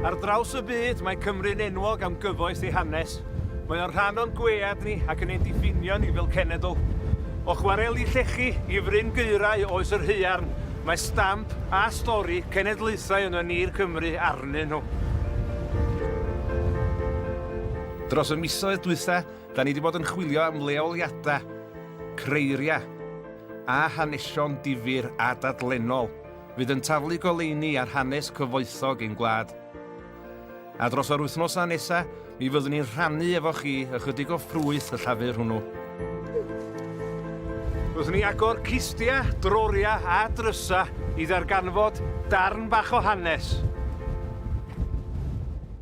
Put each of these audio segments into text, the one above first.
Ar draws y byd, mae Cymru'n enwog am gyfoes ei hanes. Mae o'n rhan o'n gwead ni ac yn ein diffinio ni fel cenedl. O chwareli llechi i fryn geirau oes yr haearn, mae stamp a stori cenedlaethau yno ni'r Cymru arnyn nhw. Dros y misoedd dwytha, Da ni 'di bod yn chwilio am leoliadau, creiriau a hanesion difyr a dadlennol fydd yn taflu goleuni ar hanes cyfoethog ein gwlad. A dros yr wythnosau nesaf, mi fyddwn ni'n rhannu efo chi ychydig o ffrwyth y llafur hwnnw. Byddwn ni agor cistia, droria a drysa i ddarganfod darn bach o hanes.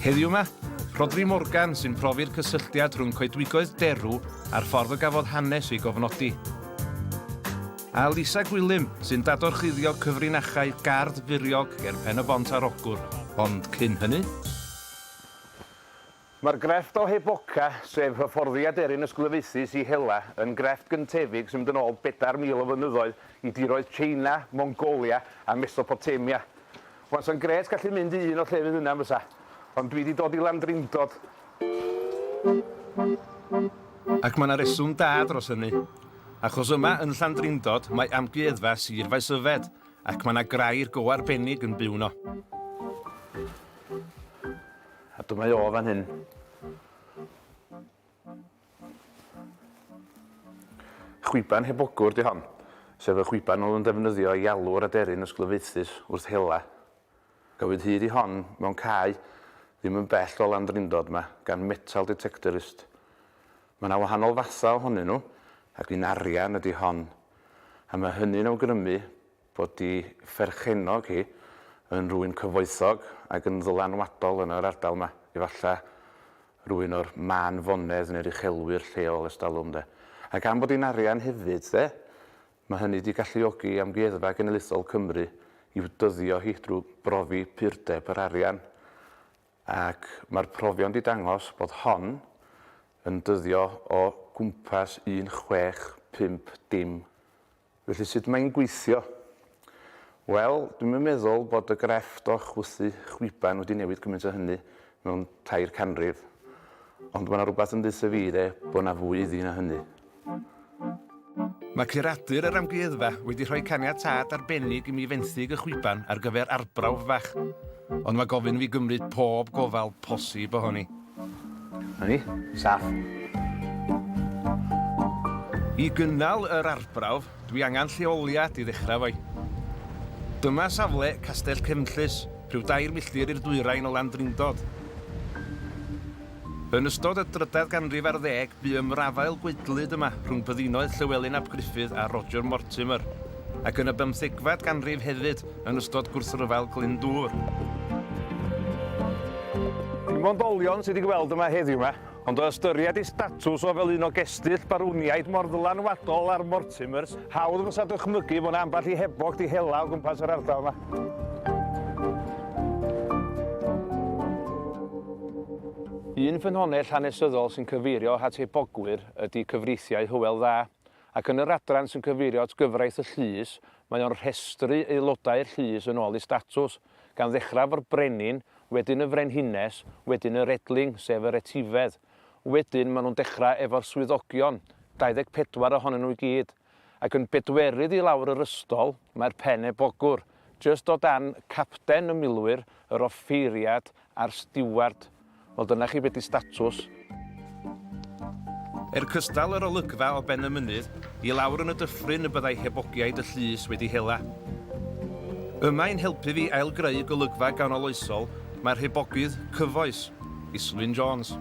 Heddiw 'ma, Rhodri Morgan sy'n profi'r cysylltiad rhwng coedwigoedd derw a'r ffordd y gafodd hanes ei gofnodi. A Lisa Gwilym sy'n dadorchuddio cyfrinachau gardd furiog ger Pen-y-bont ar Ogwr, ond cyn hynny? Mae'r grefft o Heboca, sef hyfforddiad eryn ysglyfaethus i hela, yn grefft gyntefig sy'n mynd yn ôl 4,000 o flynyddoedd i diroedd Tsieina, Mongolia a Mesopotamia. Wasa'n grêt gallu mynd i un o llefydd yna yn fysa? Ond dwi di dod i Landrindod. Ac ma' 'na reswm da dros hynny. Achos yma yn Llandrindod mae Amgueddfa Sir Faesyfed ac ma' 'na grair go arbennig yn byw 'no. A dyma o fan hyn. Chwiban heb ogwr 'di hon, sef y chwiban oedd yn defnyddio i alw yr aderyn ysglyfaethus wrth hela. Cafwyd hyd i hon mewn cae ddim yn bell o Landrindod 'ma gan metal detectorist. Mae 'na wahanol fathau ohonyn nhw ac un arian ydi hon a mae hynny'n awgrymu fod ei pherchennog hi yn rywun cyfoethog ac yn ddylanwadol yn yr ardal 'ma, efallai rywun o'r mân fonedd neu'r uchelwyr lleol ers talwm 'de. A gan bod hi'n arian hefyd 'de, mae hynny 'di galluogi Amgueddfa Genedlaethol Cymru i'w dyddio hi drwy brofi purdeb yr arian, ac mae'r profion 'di dangos bod hon yn dyddio o gwmpas un chwech pump dim. Felly sut mae'n gweithio? Wel, dwi'm yn meddwl bod y grefft o chwythu chwiban wedi newid cymaint â hynny mewn tair canrif. Ond mae 'na rywbeth yn deutha fi de, bod 'na fwy iddi na hynny. Mae curadur yr amgueddfa wedi rhoi caniatâd arbennig i mi fenthyg y chwiban ar gyfer arbrawf fach, ond mae gofyn i fi gymryd pob gofal posib ohoni. Na ni. Saff. I gynnal yr arbrawf, dwi angen lleoliad i ddechrau efo'i. Dyma safle Castell Cefnllys, rhyw dair milltir i'r dwyrain o Landrindod. Yn ystod y drydedd ganrif ar ddeg, bu ymrafael gwaedlyd yma rhwng byddinoedd Llewelyn ap Gruffydd a Roger Mortimer, ac yn y bymthegfed ganrif hefyd, yn ystod gwrthryfel Glyndŵr. Dim ond olion sydd i gweld yma heddiw 'ma, ond o ystyried ei statws o fel un o gestyll barwniaid mor ddylanwadol ar Mortimers, hawdd fysa dychmygu fod 'na ambell i hebog 'di hela o gwmpas yr ardal 'ma. Un ffynhonnell hanesyddol sy'n cyfeirio at hebogwyr ydy cyfreithiau Hywel Dda, Ac yn yr adran sy'n cyfeirio at gyfraith y llys, mae o'n rhestru aelodau'r llys yn ôl eu statws, gan ddechrau efo'r brenin, wedyn y frenhines, wedyn yr edling, sef yr etifedd. Wedyn, maen nhw'n dechrau efo'r swyddogion, 24 ohonyn nhw i gyd. Ac yn bedwerydd i lawr yr ystol, mae'r pen ebogwr, jyst o dan Capten y Milwyr, yr Offeiriad, A'r stiward. Wel dyna chi be di statws. Er cystal yr olygfa o ben y mynydd i lawr yn y dyffryn y byddai hebogiaid y llys wedi hela. Yma i'n helpu fi ailgreu golygfa ganoloesol mae'r hebogydd cyfoes, Islwyn Jones.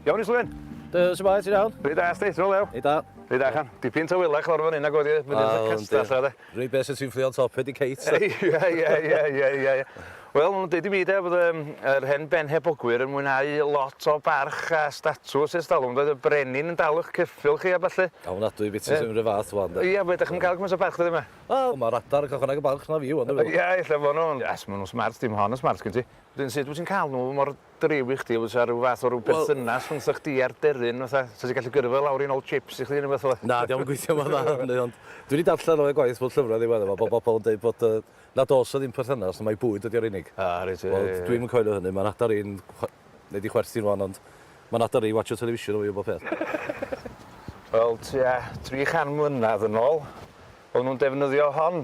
Iawn Islwyn! Duw, shwmae, ti'n iawn? Reit dda, sti, shwt olew? Reit dda. Reit dda, chan. Dipyn tawelach lawr fan hyn nag oedd hi, mynd i'r castell 'na de. Reit beth sy'n fflio on top Eddie Kate? Ie ie ie ie ie ie. Wel maen nhw'n deud i mi de bod yym yr hen benhebogwyr yn mwynhau lot o barch a statws ers talwm doedd y brenin yn dal ych ceffyl chi a ballu. A ofnadwy biti sydd yn yr un fath wan de. Ie be dach chi'm yn cael cymaint o barch dyddia ma? Wel ma'r adar yn cael chwarae barch na fi wan dwi'n meddwl. Ie ella bo nhw'n. Yes maen nhw'n smart dim hon yn smart gen ti. Wedyn sut wyt ti'n cael nhw mor driw i chdi efo fysa ryw fath o ryw berthynas rhwngtha chdi a'r deryn fatha sa ti gallu gyrru fo lawr i nôl chips i chdi ne' wbath fela. Na dio'm yn gweithio mor dda hynny ond dwi 'di darllen o i gwaith mewn llyfra ddiweddar 'ma bo' bobol yn deud bod yy nad o's 'na ddim perthynas mai bwyd ydi o'r unig. A reit ie ie ie. Wel dwi'm yn coelio hynny ma'n adar i'n chwa- nei di chwerthin rŵan ond ma'n adar i watsio television efo fi am bob peth. Wel tua tri chan mlynadd yn ôl o'n nw'n defnyddio hon.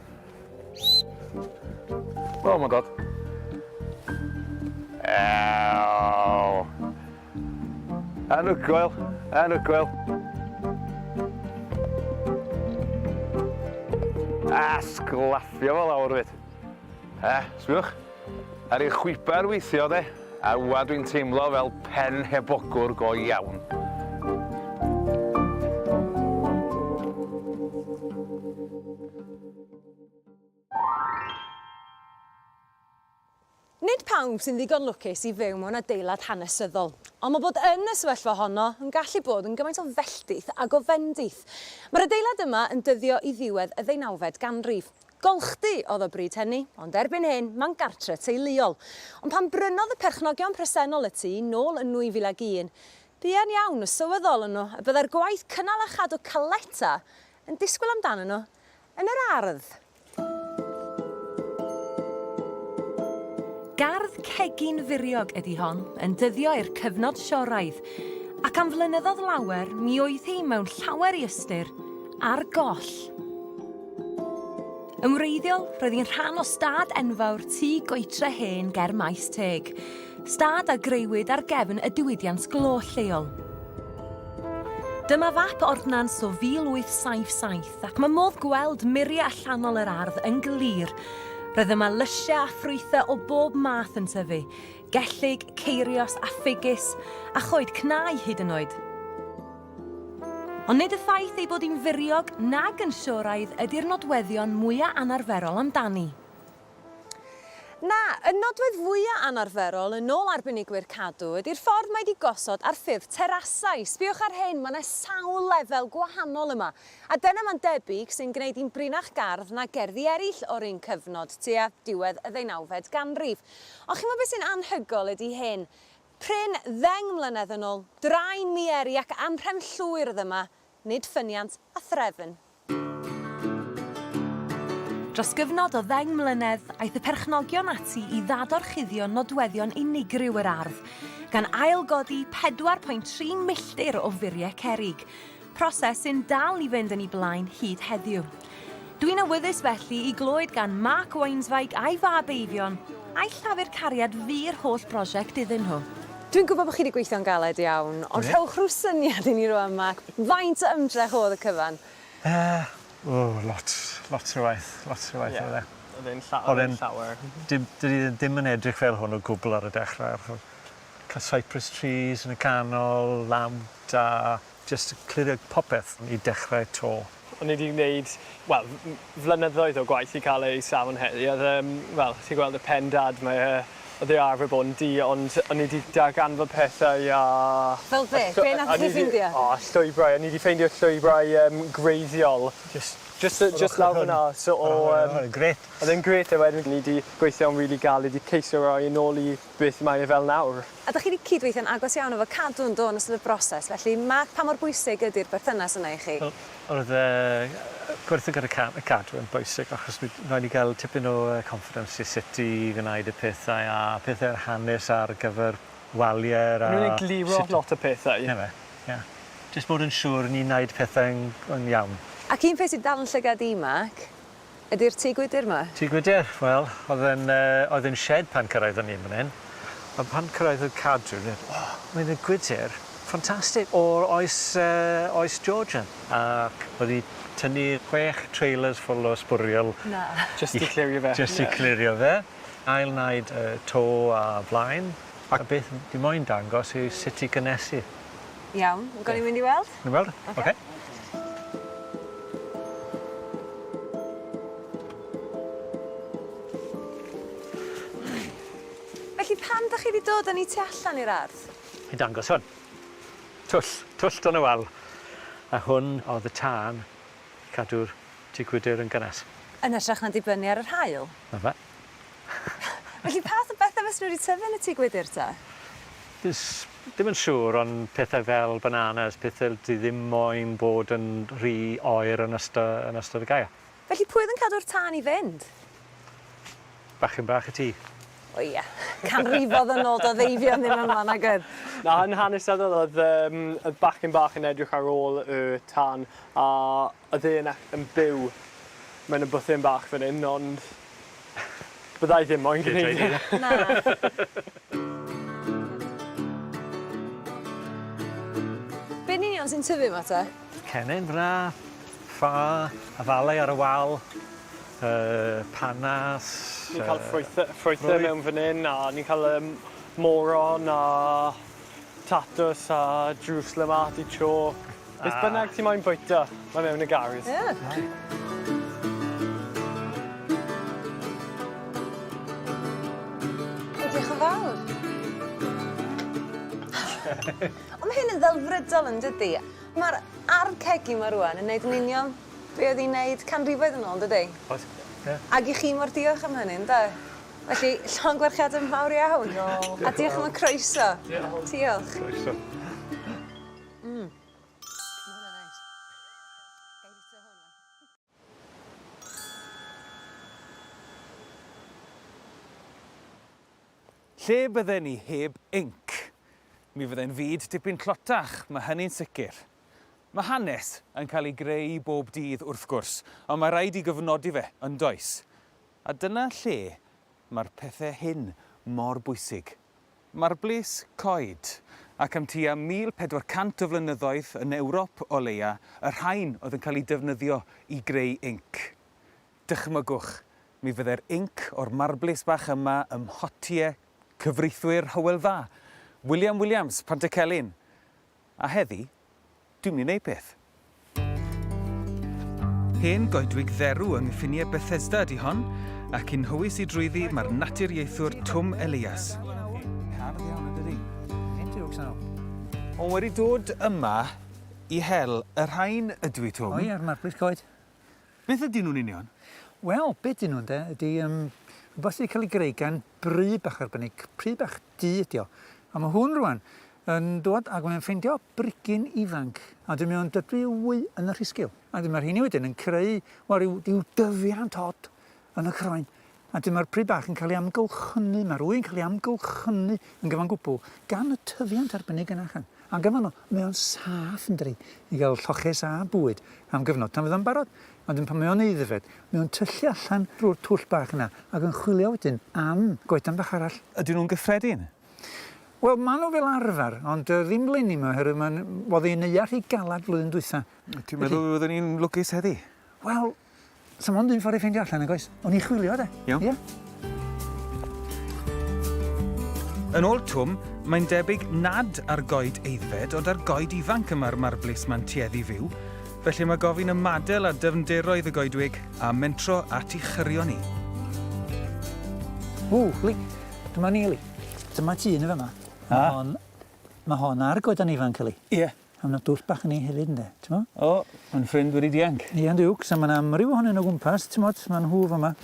O, mae'n dod. Ew. Anhygoel, anhygoel. A sglafio fo lawr fyd. Eh, sbiwch. Ar ei chwiber weithio de, a ŵa dwi'n teimlo fel pen heb ogwr go iawn. Nid pawb sy'n ddigon lwcus i fyw mewn adeilad hanesyddol, ond mae bod yn y sefyllfa honno yn gallu bod yn gymaint o felltith ag o fendith. Mae'r adeilad yma yn dyddio i ddiwedd y ddeunawfed ganrif. Golchdy oedd o bryd hynny, ond erbyn hyn, mae'n gartre teuluol. Ond pan brynodd y perchnogion presennol y tŷ nôl yn 2001, buan iawn y sylweddolon nhw y byddai'r gwaith cynnal a chadw caleta yn disgwyl amdanyn nhw yn yr ardd. Gardd cegin furiog ydi hon, yn dyddio i'r cyfnod sioraidd, ac am flynyddoedd lawer mi oedd hi mewn llawer i ystyr ar goll. Yn wreiddiol, roedd hi'n rhan o stad enfawr tu goetre hen ger Maes Teg. Stad a greuwyd ar gefn y diwydiant glo lleol. Dyma fap ordnans o 1877 ac mae modd gweld muriau allanol yr ardd yn glir. Roedd yma lysiau a ffrwythau o bob math yn tyfu, gellyg, ceirios a ffigys, a choed cnau hyd yn oed. Ond nid y ffaith ei bod hi'n furiog nag yn sioraidd ydi'r nodweddion mwya' anarferol amdani. Na, y nodwedd fwya' anarferol, yn ôl arbenigwyr cadw, ydi'r ffordd mae 'di gosod ar ffurf terasau. Sbïwch ar hyn, ma' 'na sawl lefel gwahanol yma. A dyna ma'n debyg sy'n gneud hi'n brinach gardd na gerddi erill o'r un cyfnod, tua diwedd y ddeunawfed ganrif. Ond chi'mo' be' sy'n anhygoel ydi hyn, Prin ddeng mlynedd yn ol, drain mieri ac amhrem llwyr oedd yma, nid ffyniant a threfn. Dros gyfnod o ddeng mlynedd, aeth y perchnogion ati i ddadorchuddio nodweddion unigryw yr ardd, gan ail-godi 4.3 milltir o furie cerrig, proses sy'n dal i fynd yn ei blaen hyd heddiw. Dwi'n awyddus felly i glywed gan Mark Weinsweig a'i fab Eifion a'i llafur cariad fu'r holl brosiect iddyn nhw. Dwi'n gwybod bod chi wedi gweithio'n galed iawn, ond rhowch rhyw syniad i ni rwan, Mark, faint o ymdrech oedd y cyfan? Yy, o, lot, lot o waith, lot o waith oedd e. Oedd e'n llawer, oedd e'n llawer. Dydy e ddim yn edrych fel hwn o gwbl ar y dechrau. Cael cypress trees yn y canol, lamp da. Jyst yn clirio popeth i dechrau 'to. O'n i 'di gwneud, wel, flynyddoedd o gwaith i cael eu safon heddi. Oedd e, wel, ti'n gweld y pen dad 'ma, ie, oedd e arfer bod yn du, ond o'n i 'di darganfod pethau a... Fel be'? Be' nathoch chi ffindio? O, llwybrau. O'n i 'di ffeindio llwybrau yym gwreiddiol. Jyst jyst yy jyst lawr fyn 'na so o yym... Oedd e'n grêt. Oedd e'n grêt a wedyn o'n i 'di gweithio'n rili galed i ceisio roi e nôl i Beth mae e fel nawr? A dach chi wedi cydweithio'n agos iawn efo Cadw'n Do yn ystod y broses, felly Mark pa mor bwysig ydy'r berthynas yna i chi? Wel, oedd yy gweithio gyda Ca- yy Cadw yn bwysig achos mi roedd ni gael tipyn o yy confidence i sut i wneud y pethau a peth yw'r hanes ar gyfer waliau'r a... O'n nhw'n egluro lot o pethau. Na fe, ie. Jyst bod yn siŵr ni'n wneud pethau'n yn iawn. Ac un peth sy'n dal yn llygad i Mark, ydy'r tŷ gwydr 'ma? Tŷ gwydr? Wel, oedd e'n yy oedd e'n shed pan cyrraeddon ni yn fan hyn. Ond pan cyrraeddodd cadwyn wedd o! Mae yna gwydr ffantastig o'r oes yy oes Georgian. Ac oedd 'i tynnu chwech trailers full o sbwriel. Na! Jyst i clirio fe. Jyst i clirio fe. Ail naid y to a flaen. A beth dwi moyn dangos yw sut i gynnesu. Iawn. Gawn ni mynd i weld? Ni'n weld? Oce. Oce. Felly pam 'dach chi 'di dod â ni tu allan i'r ardd? I dangos hwn. Twll. Twll Don y Wal. A hwn o'dd y tân i cadw'r tŷ gwydyr yn gynnes. Yn hytrach na dibynnu ar yr haul? 'Na fe. Felly pa fath o bethe fysen nhw wedi tyfu yn y tŷ gwydr ta? Does dim yn siŵr ond pethau fel bananas, pethe l- sy ddim moyn bod yn rhy oer yn ysto- yn ystod y gaea. Felly pwy oedd yn cadw'r tân i fynd? Bachgen bach y tŷ. O ia. Canrifodd yn ôl, doedd Eifion ddim yma nag oedd? Na, yn hanesyddol oedd yym oedd bachgen bach yn edrych ar ôl y tân a Y ddyn ac yn byw mewn y bwthyn bach fan hyn, ond bydda i ddim moyn gwneud e. Na. Be yn union sy'n tyfu 'ma te? Cennin fyn 'na, ffa, afalau ar y wal, yy panas, yy... Ni'n ca'l ffrwythe ffrwythe mewn fan 'yn a ni'n ca'l yym moron a Tatws a drws le ma' ti chalk. Beth bynnag ti moyn bwyta ma' mewn y garej. Ie. O ma' hyn yn ddelfrydol yndydi? Ma'r ardd cegi 'ma rŵan yn neud yn union be' odd 'i'n neud canrifoedd yn ôl dydi? Odd. Ie. Ag i chi mor diolch am hynny ynde? Felly, llongyfarchiadau mawr iawn. Diolch. A diolch am y croeso. Diolch. Diolch. Croeso. Mmm. Lle bydden ni heb inc? Mi fyddai'n fyd dipyn tlotach, mae hynny'n sicr. Mae hanes yn cael ei greu bob dydd, wrth gwrs, ond mae rhaid i gyfnodi fe, yn does? A dyna lle mae'r pethe hyn mor bwysig. Mae'r blys coed, ac am tua 1,400 o flynyddoedd, yn Ewrop o leia, y rhain oedd yn cael eu defnyddio i greu inc. Dychmygwch, mi fyddai'r inc o'r marblys bach yma ym mhotie cyfreithwyr Hywel Dda, William Williams, Pantycelyn, A heddi, dwi'n mynd i wneud peth. Hen goedwig dderw yng nghyffiniau Bethesda ydy hon, ac yn nhywys i drwyddi mae'r naturiaethwr Twm Elias. Hardd iawn yn dydi? Hen jokes nawr. Ond wedi dod yma i hel y rhain ydw i, Twm. O ie, marbris coed. Beth ydyn nhw'n union? Wel, be ydyn nhw ynde ydy rhywbeth sydd wedi cael ei greu gan bry bach arbennig, pry bach du ydi o. A mae hwn rwan yn dod ac mae'n ffeindio brigyn ifanc a dwi mewn dydw wy yn y rhisgil. A dyma'r rheini wedyn yn creu wel, rhyw, rhyw dyfiant od yn y croen. A dyma'r pry bach yn cael ei amgylchynu, mae'r wy'n cael ei amgylchynu yn gyfan gwbl gan y tyfiant arbennig yn achan. A gyfan o, mae o'n saff yn dri i gael lloches a bwyd am gyfnod tan fydd o'n barod Ond yn pan mae o'n aeddfed, mae o'n tyllu allan drwy'r twll bach yna ac yn chwilio wedyn am goedan bach arall. Ydyn nhw'n gyffredin? Wel, maen nhw fel arfer, ond yy ddim 'leni 'ma oherwydd mae'n... oedd ei neuadd rhy galed flwyddyn dwytha. Ti'n meddwl y fyddwn ni'n lwcus heddi? Wel, 'sa mond un ffordd i ffeindio allan, nag oes? O'n i chwilio de. Iawn. Ia. Yn ôl Twm, mae'n debyg nad ar goed eiddfed ond ar goed ifanc y mae'r marblis ma'n tueddu fyw, felly mae gofyn ymadel a dyfnderoedd y goedwig a mentro at i chyrio ni. Ww, Li, dyma ni Li. Dyma ti yn y fyma. Mae hon, mae hon ar goedan ifanc Li. Ie. Yeah. A ma' 'na dwll bach yn 'i hefyd ynde? T'mo'? O, mae'n ffrind wedi dianc. Ia yn diwcs a ma' 'na amryw ohonyn nw o gwmpas t'mod ma' nhw fy' 'ma,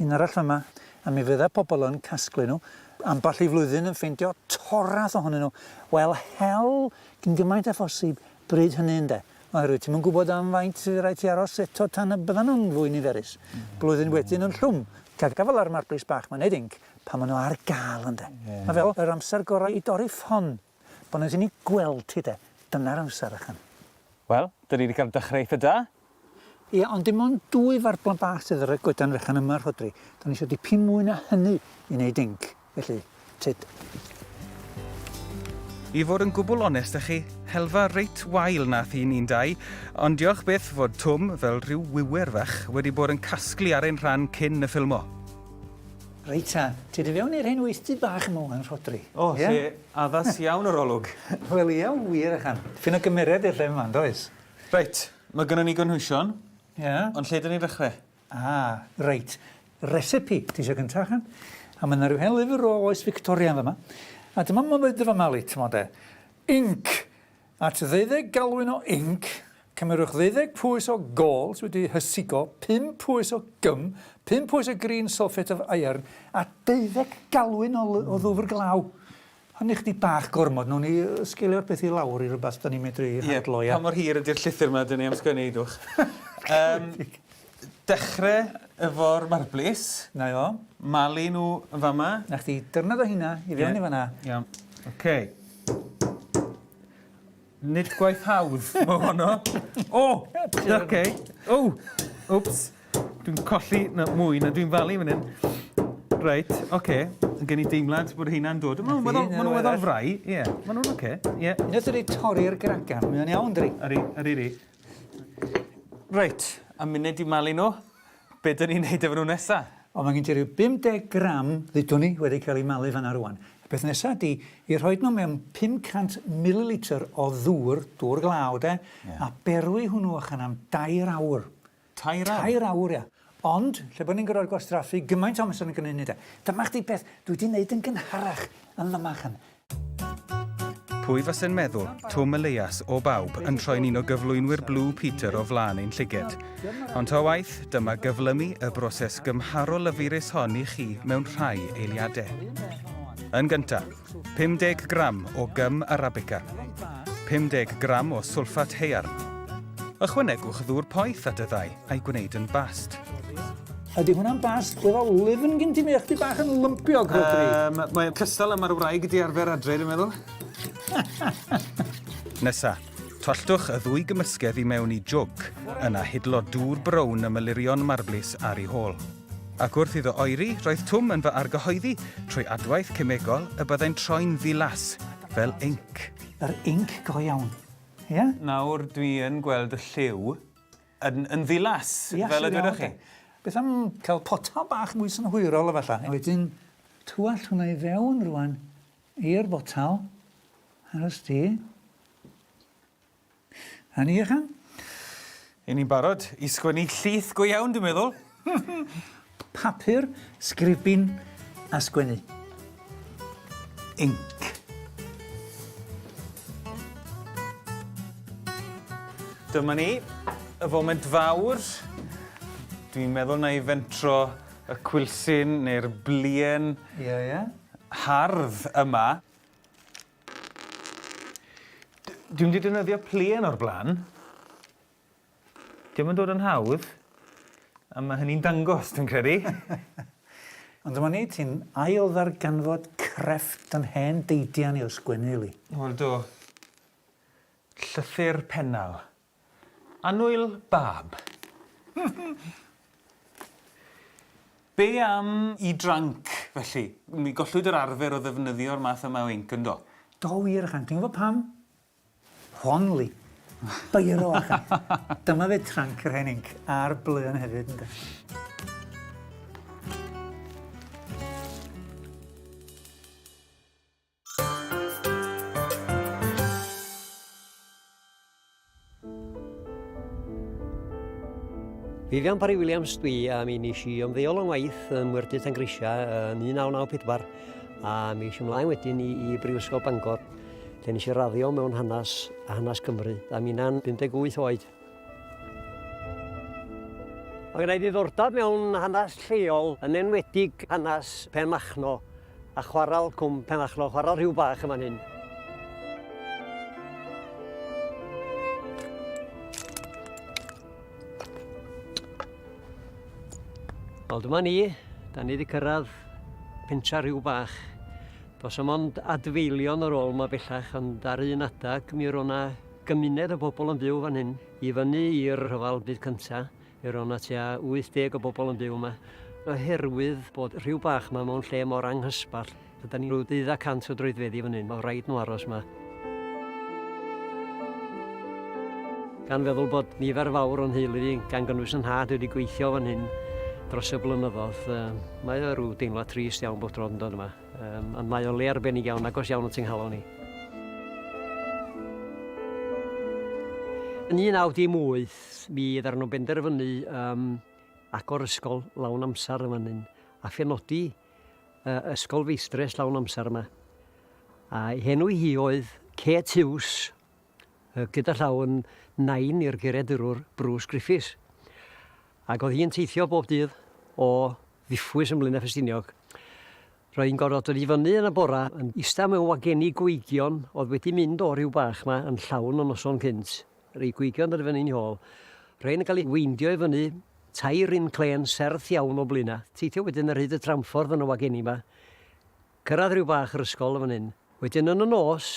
un arall fy' 'ma a mi fydda pobol yn casglu nhw amball i flwyddyn yn ffeindio torrath ohonyn nhw. Wel hel cyn gymaint â phosib bryd hynny ynde? Oherwydd ti'm yn gwbod am faint fy' raid ti aros eto tan y byddan nhw'n fwy niferus. Blwyddyn wedyn yn llwm. Ca' gafal ar marbris bach 'ma neud inc pan ma' nhw ar ga'l ynde? Ma' fel yr amser gora' i dorri ffon. Bo nes i ni gweld ti de. Dyna'r amser ychan. Wel, dyn ni wedi cael dychreu eitha da. Ie, ond dim ond dwy farblan bach sydd ar y goedan fechan yma, Rhodri. Do'n ni isio dipyn mwy na hynny i wneud dinc, felly, tyd. I fod yn gwbl onest â chi, helfa reit wael nath un i'n dau, ond diolch byth fod Twm, fel rhyw wiwer fach, wedi bod yn casglu ar ein rhan cyn y ffilmo. Reit ta, ti di fewn i'r hen weithdy bach yma ŵan, Rhodri. O, lle addas iawn yr olwg. Wel ia, wir ychan. Dipyn o gymeriad i'r lle yma, yndoes? Reit, mae gynnon ni gynhwysion. Ia. Ond lle dyn ni'n ddechre? Ah, reit. Recipe, ti isio gynta ychan? A mae yna rhyw hen lyfr o oes Victoria yn fama. A dyma ma' fyd yn fama li, t'mod de. Inc! At ddeuddeg galwyn o inc, cymerwch ddeuddeg pwys o gols wedi hysigo, pum pwys o gym, pum pwys o green sulphate of iron, a deuddeg galwyn o o ddwfr glaw. Hynny chydig bach gormod, nawn ni sgelio'r peth i lawr i rywbeth 'dan ni'n medru handlo, ia? Ie, pa mor hir ydi'r llythyr 'ma 'dan ni am sgwennu, Eiddwch? Yym. Dechre efo'r marblis. 'Na i fo. Malu nhw yn fa' 'ma. 'Na chdi. Dyrnod o rheina i fewn i fan 'na. Iawn. Oce. Nid gwaith hawdd o' honno. O! Oce. O! Wps. Dwi'n colli na mwy na dwi'n falu fan 'yn. Reit, oce. Ma' gen i deimlad bod rheina'n dod. Ma' nw'n weddol ma' nw'n weddol fry. Ie. Ma' nw'n oce. Ie. Jyst ydi torri'r gragan. Mae o'n iawn dydi? Ydi. Ydi 'di. Reit, a munud i malu nhw, be dyn ni'n neud efo nhw nesa? O mae gen ti ryw 50 gram ddudwn i wedi cael eu malu fan'na rwan. Y peth nesa ydi i rhoid nhw mewn 500 mililitr o ddŵr, dŵr glaw de, a berwi hwnnw allan am dair awr. Tair awr? Tair awr, ia. Ond, lle bod ni'n gorfod gwastraffu gymaint o amser yn gneud hynny de. Dyma chdi beth dwi 'di neud yn gynharach yn fama, ch'mo'. Pwy fase'n meddwl, Twm y Leuas, o bawb, yn troi'n un o gyflwynwyr Blue Peter o flaen ein llyged. Ond ta waeth, dyma gyflymu y broses gymharol lyfurus hon i chi mewn rhai eiliade. Yn gynta', 50 gram o gym arabica, 50 gram o swlffat haearn. Ychwanegwch ddŵr poeth at y ddau a'i gwneud yn bast. Ydy hwnna'n bast? Oedd o lyfn gyn ti, mi o'ch ti bach yn lympio, Rodri. Um, Mae'n cystal am ar wraig di arfer adre, dwi'n meddwl. Nesa, tolltwch y ddwy gymysgedd i mewn i jwg, yna hidlo dŵr brown y mylurion marblis ar ei hôl. Ac wrth iddo oeri, roedd Twm yn fy argyhoeddi, trwy adwaith cemegol, y byddai'n troi'n ddilas, fel inc. Yr inc go iawn, ie? Nawr dwi yn gweld y lliw yn yn ddilas, fel y dwedoch chi. Beth am cael potel bach mwy synhwyrol efallai? A wedyn twallt hwnna i fewn rŵan i'r botel, aros di. A ni ychan? Y'n ni'n barod i sgwennu llith go iawn dwi'n meddwl. Papur, sgribin a sgwennu. Inc. Dyma ni, y foment fawr. Dwi'n meddwl na i fentro y cwilsyn neu'r blien... Ie, ie. ...hardd yma. Dwi'm 'di defnyddio pluen o'r blaen. Dio'm yn dod yn hawdd. A ma' hynny'n dangos, dwi'n credu. Ond dyma ni, ti'n ail ddarganfod crefft yn hen deidian i o sgwennu, Lee. Wel do. Llythyr Pennal. Annwyl bab. Be am i dranc, felly? Mi gollwyd yr arfer o ddefnyddio'r math yma o inc, yndo? Do wir, ychan. Ti'n gwybod pam? Hon-ly. Biro, ychan. Dyma fe tranc yr hen inc, a'r blên hefyd, ynde? Vivian Parry Williams dwi a mi nes i ymddeol yn waith ym Mwyrdy Tangrisia yn 1994 a mi eisiau ymlaen wedyn i, i Brifysgol Bangor lle nes i raddio mewn hanes a hanes Cymru a mi na'n 58 oed. Mae gen i ddiddordeb mewn hanes lleol yn enwedig hanes Pen Machno A chwarel Cwm Penmachno, chwarel rhyw bach yn fan hyn. Wel dyma ni, da ni wedi cyrraedd pentra rhyw bach. Does am ond adfeilion ar ôl yma bellach, ond ar un adag mi roedd yna gymuned o bobl yn byw fan hyn. I fyny i'r rhyfel byd cyntaf, Fe roedd 'na tua 80 o bobl yn byw yma. Oherwydd bod Rhiw Bach yma mewn lle mor anghysbell, gyda ni rhyw deuddag cant o droedfeddi fan hyn, oedd rhaid nhw aros yma. Gan feddwl bod nifer fawr o'n nheulu i, gan gynnwys 'y nhad, wedi gweithio fan hyn dros y blynyddoedd, um, mae o rhyw deimlad trist iawn bod dro'n dod yma. Um, ond mae o le arbennig iawn, agos iawn at yng nghalon ni. Yn 1918, Ond mi ddaru nhw benderfynu yym agor ysgol lawn amser yn fan hyn a phenodi yy ysgol feistres lawn amser yma. A'i henw hi oedd Kate Hughes yy gyda llaw yn nain i'r geiriadurwr Bruce Griffiths. Ac oedd hi'n teithio bob dydd o Ddiffwys yn Mlaenau Ffestiniog. Roedd hi'n gorfod dod i fyny yn y bora yn ista mewn wageni gweigion oedd wedi mynd o ryw bach 'ma yn llawn y noson cynt. Rei gwygion yr fyny'n hôl. Rhein yn cael eu weindio i fyny, tair run clên serth iawn o Blaena'. Teithio wedyn ar hyd y tramffordd yn y wageni 'ma. Cyrraedd ryw bach yr ysgol yn fan hyn. Wedyn yn y nos,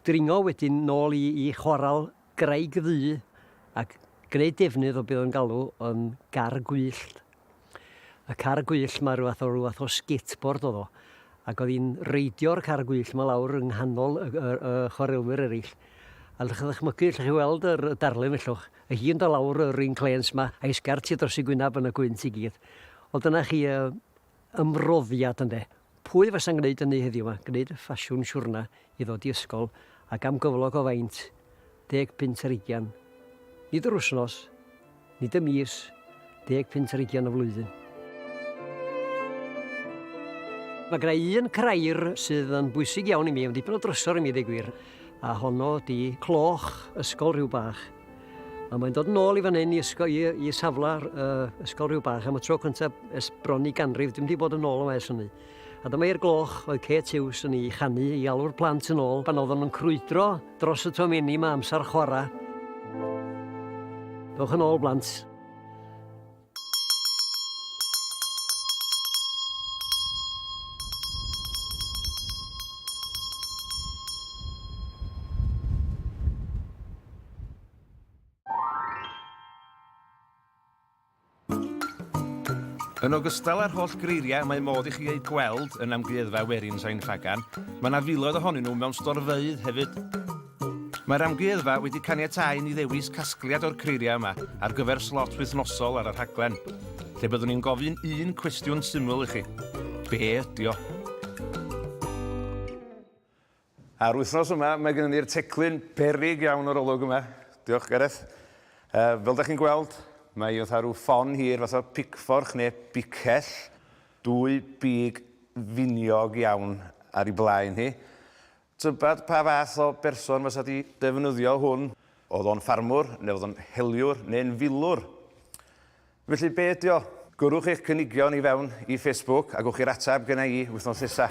dringo wedyn nôl i i Chwarel Graig Ddu ac gneud defnydd o be' o'n galw yn gar gwyllt. Y car gwyllt 'ma rywfath o rywfath o skateboard o'dd o ac o'dd 'i'n reidio'r car gwyllt 'ma lawr yng nghanol y y y chwarelwyr ereill. A 'llwch chi ddychmygu 'llwch chi weld yr y darlun fellwch a hi'n do' lawr yr un clêns 'ma a'i sgert hi dros ei gwynab yn y gwynt i gyd. Wel dyna chi yy ymroddiad ynde? Pwy fasa'n gwneud ynny heddiw 'ma, gwneud y ffasiwn siwrna i ddod i ysgol ac am gyflog o faint, deg punt ar ugian. Nid yr wsnos, nid y mis, deg punt ar ugian y flwyddyn. Mae gyda i un crair sydd yn bwysig iawn i mi, yn dipyn o drysor i mi ddeu gwir, a honno ydi cloch ysgol rhyw bach. A mae'n dod yn ôl i fan hyn i, ysgol, i, i safle uh, ysgol rhyw bach am y tro cyntaf ers bron i ganrif, dim di bod yn ôl yma ers hynny. A dyma i'r gloch oedd Kate Hughes yn ei chanu i alw'r plant yn ôl pan oeddwn yn crwydro dros y tomenni mae amser chwarae. Dewch yn ôl, blant. Yn ogystal â'r holl greiriau mae modd i chi eu gweld yn amgueddfa werin Sain Ffagan, mae yna filoedd ohonyn nhw mewn storfeydd hefyd. Mae'r Amgueddfa wedi caniatáu i ni ddewis casgliad o'r creiriau yma ar gyfer slot wythnosol ar y rhaglen, lle byddwn ni'n gofyn un cwestiwn syml i chi, be ydy o? A'r wythnos yma, mae gennym ni'r teclyn beryg iawn o'r olwg yma. Diolch, Gareth. Uh, fel da chi'n gweld, mae oedd rhyw ffon hir fath o picforch neu bicell, dwy big finiog iawn ar ei blaen hi. Tybed pa fath o berson fysa di defnyddio hwn? Oedd o'n ffarmwr, neu oedd o'n heliwr, neu'n filwr? Felly be ydi o? Gyrrwch eich cynigion i fewn i Facebook a gewch i'r ateb gynna i wythnos nesa.